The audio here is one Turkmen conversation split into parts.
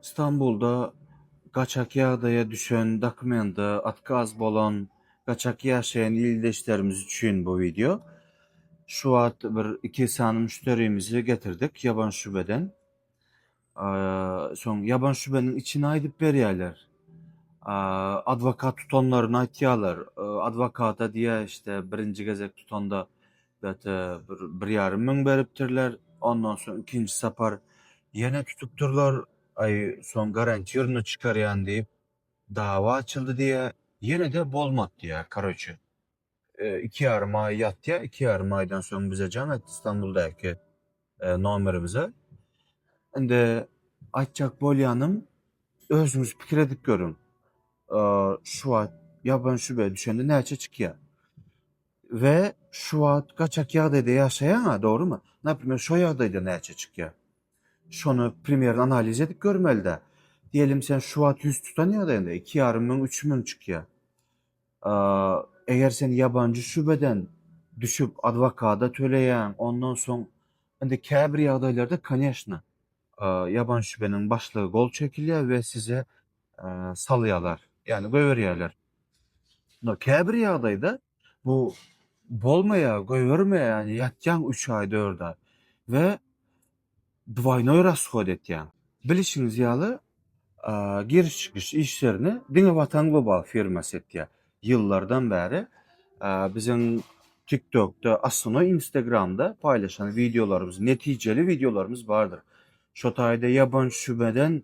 Stambulda gaçak ýagdaýa düşen dokumenta otkaz bolan gaçak ýaşaýan ildeşlerimiz üçin bu wideo. Şu wagt bir iki sany müşderimizi getirdik ýaban şubeden. Soň ýaban şubeniň içini aýdyp berýärler. Adwokat tutanlaryny aýtýarlar. Adwokata diýýär işte birinji gezek tutanda Bete bir bir ýarym müň beripdirler. Ondan soň ikinji sapar ýene tutupdyrlar. Aý, soň garantirny çykarýan diýip, dawa açyldy diýýä. Ýene-de bolmady diýýä, karoçe. Iki ýarym aý ýatýa, iki ýarym aýdan soň bize jaň etdi Stambuldaky nomerimize. Indi aýtjak bolýanym, özüňiz pikir edip görüň, şu wagt ýaban şübä düşende näçe çykýa? We şu wagt gaçak ýagdaýda ýaşaýaňa, dogrymy? Naprimer şo ýagdaýda näçe çykýar? Şony primerni analiz edip görmelidä. Diýelim sen şu wagt ýüz tutan ýagdaýyňda iki ýarym müň, üç müň çykýar. Eger sen ýabanjy şübeden düşüp adwokada töleýäň, ondan soň indi käbir ýagdaýlarda koneşna ýaban şübeniň başlygy gol çekilýär we size salýarlar, ýagny goýberýärler. Ýöne käbir ýagdaýda bu bolmaýar, goýbermeýär, ýatýaň üç aý, dört aý we dwaýnoý rashod etýäň. Bilişiňiz ýaly, giriş-çykyş işlerini diňe Watan Global firmasy etýär. Ýyllardan bäri biziň TikTokda, Astronoý Instagramda paýlaşan wideolarymyz, netijeli wideolarymyz bardyr. Şo taýda ýaban şübeden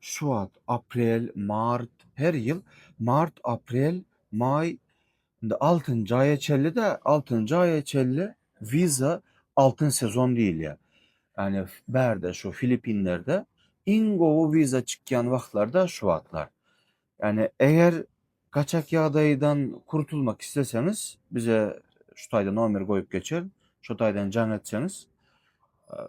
Şubat, aprel, mart, her ýyl mart, aprel, maý, indi altynjy aýa çenli-de, altynjy aýa çenli wiza altyn sezon diýilýär. Ýagny bärde şu Filippinlerde iň gowy wiza çykýan wagtlary-da şu wagtlar. Ýagny eger gaçak ýagdaýdan kurtulmak isleseňiz bize şu taýda nomer goýup geçer, şo taýdan jaň etseňiz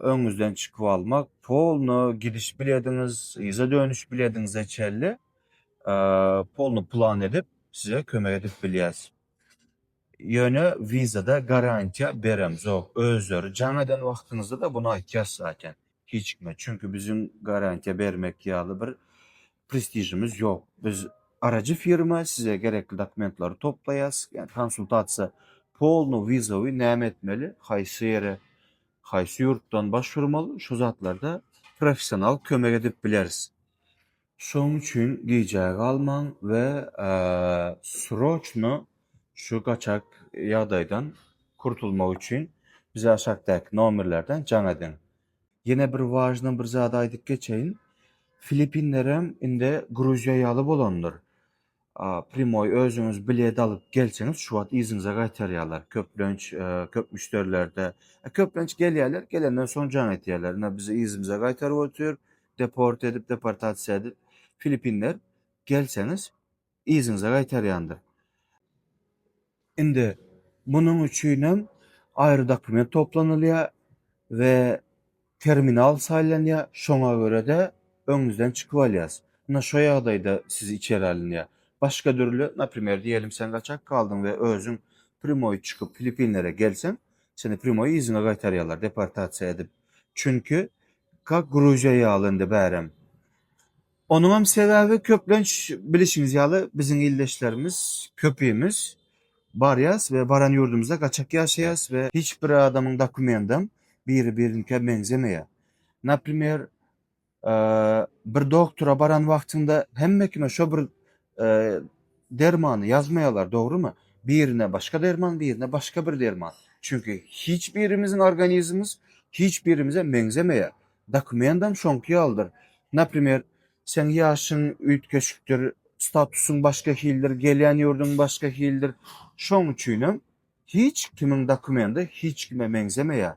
öňüňizden çykyp almak, polno gidiş bilediňiz, yza dönüş bilediňize çenli polno plan edip size kömek edip bilýäs. Ýöne wizada garantiýa beremzok. Özleri jaň eden wagtyňyzda-da bunu aýtýas zaten hiç kime. Çünki biziň garantiýa bermek ýaly bir prestižimiz ýok. Biz arajy firma, size gerekli dokumentlary toplaýas, ýa konsultasiýa polno wizawy näme etmeli, haýsy ýere, haýsy ýurtdan başvurmaly, şu zatlarda professional kömek edip bileris. Şoň üçin gijä galmaň we sroçno şu gaçak ýagdaýdan kurtulmak üçin bize aşakdaky nomerlerden jaň ediň. Ýene bir wažna bir zady aýdyp geçeýin. Filipinlerem indi Gruziýa ýaly bolandyr. Primoý özüňiz bilet alyp gelseňiz şu wagt yzyňyza gaýtarýarlar. Köplenç köp müşderilerde köplenç gelýärler, gelenden soň jaň etýärler. Ine bizi yzymyza gaýtaryp otyr, deport edip, deportasiýa edip. Filipinler gelseňiz yzyňyza gaýtarýandyr. Indi munuň üçin hem aýry dokument toplanylýar we terminal saýlanýar, şoňa görä-de öňüňizden çykyp alýas. Ynha şo ýagdaýda siz içeri alynýar. Başga dürli, naprimer diýelim sen gaçak galdyň we özüň primoý çykyp Filipinlere gelseň, seni primoý yzyňa gaýtarýarlar deportasiýa edip. Çünki kak Gruziýa ýaly indi bärem. Onuňam sebäbi köplenç bilişiňiz ýaly biziň ildeşlerimiz köpimiz barýas we baran ýurdumyzda gaçak ýaşaýas we hiç bir adamyň dokumentam biri birinikä meňzemeýär. Naprimer bir doktora baran wagtyňda hemme kime şo bir dermany ýazmaýarlar dogrymy? Birine başga derman birine başga bir derman. Çünki hiç birimiziň organizmimiz hiç birimize meňzemeýär. Dokumentam şoňky ýalydyr. Naprimer, seň ýaşyň üýtgeşikdir, statusyň başga hildir, gelýän ýurduň başga hildir. Şoň üçinem hiç kimiň dokumenti hiç kime meňzemeýär.